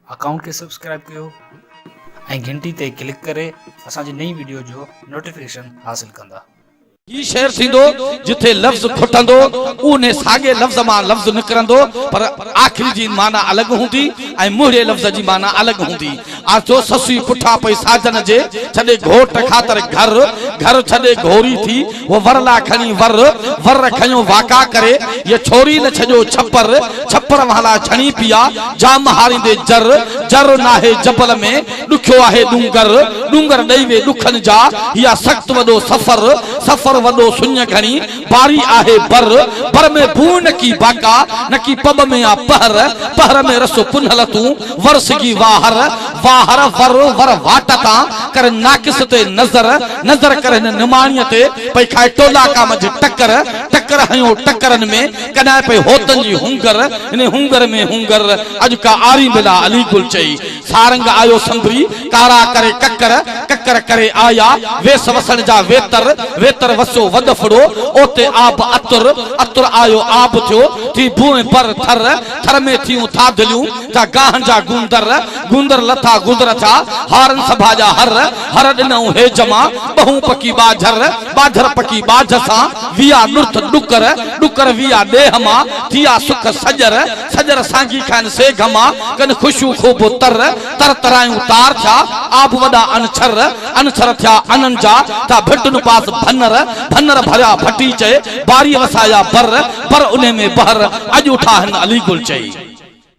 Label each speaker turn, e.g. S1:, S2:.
S1: Account کي subscribe ڪيو ۽ گهنٽي تي ڪلڪ ڪري اسان جي نئين وڊيو جو نوٽيفڪيشن حاصل ڪندا. هي شعر
S2: ٿيندو جتي لفظ کٽندو اونهي ساڳي لفظ مان لفظ نڪرندو پر آخري جي معنيٰ الڳ هوندي ۽ مهڙي لفظ جي معنيٰ الڳ هوندي آجو سسئي پٺان پئي ساجن جي ڇڏي گهوٽ خاطر گهر گهر ڇڏي گهوري ٿي هو ور لا کڻي ور ور کنيو واڪا ڪري يي ڇوري نه ڇڏيو ڇپر ڇپر والا ڇڻي پيا جام هاريندي جر جر ناهي جبل ۾ ڏکيو آهي ڏونگر ڏونگر ڏئي وي ڏکن جا هيا سخت وڏو سفر سفر وڏو سڃ گهڻي باري آهي بر، بر ۾ بوء نه ڪي باقا، نه ڪي پٻ ۾ آ پهر، پهر ۾ رس پنهل تون، ور سگهي واهر، واهر ور، ور واٽ تان، ڪر ناقص تي نظر، نظر ڪر هن نماڻيء تي، پئي کائي ٽولاڪا منجهه ٽڪر، ٽڪر هنيو ٽڪرن ۾، ڪڏهن پئي هوتن جي هونگر، انهي هونگر ۾ هونگر، اڄ ڪا آرين بلا علي گل چئي، سارنگ آيو سندري، ڪارا ڪري ڪڪر، ڪڪر ڪري آيا، ويس وسڻ جا ويتر، ويتر وسيو وڏ ڦڙو، اوتي آب اتر، اتر آيو آب ٿيو، ٿي ڀونء پر ٿر، ٿر ۾ ٿيون ٿاڌليون، جا گاهن جا گوندر، گوندر لٿا گدر ٿا، هارن سڀا جا هر، هر ڏنئون هيج مان، ٻهون پڪي ٻاجهر، ٻاجهر پڪي ٻاجهه سان، ويا نرٿ ڏڪر، ڏڪر ويا ڏيهه مان، ٿيا سک سڄر، سڄر سانگي کائن سي گهما، ڪن خوشيون خوب تر، تر ترايون تار ٿيا، آب وڏا ان ڇر، ان ڇر ٿيا انن جا، ٿيا ڀٽن پاس ڀنر، ڀنر ڀريا ڀٽي چئي، باري وسايا بر، بر انهي ۾ بحر، اڄ اٺا هن علي گل چئي.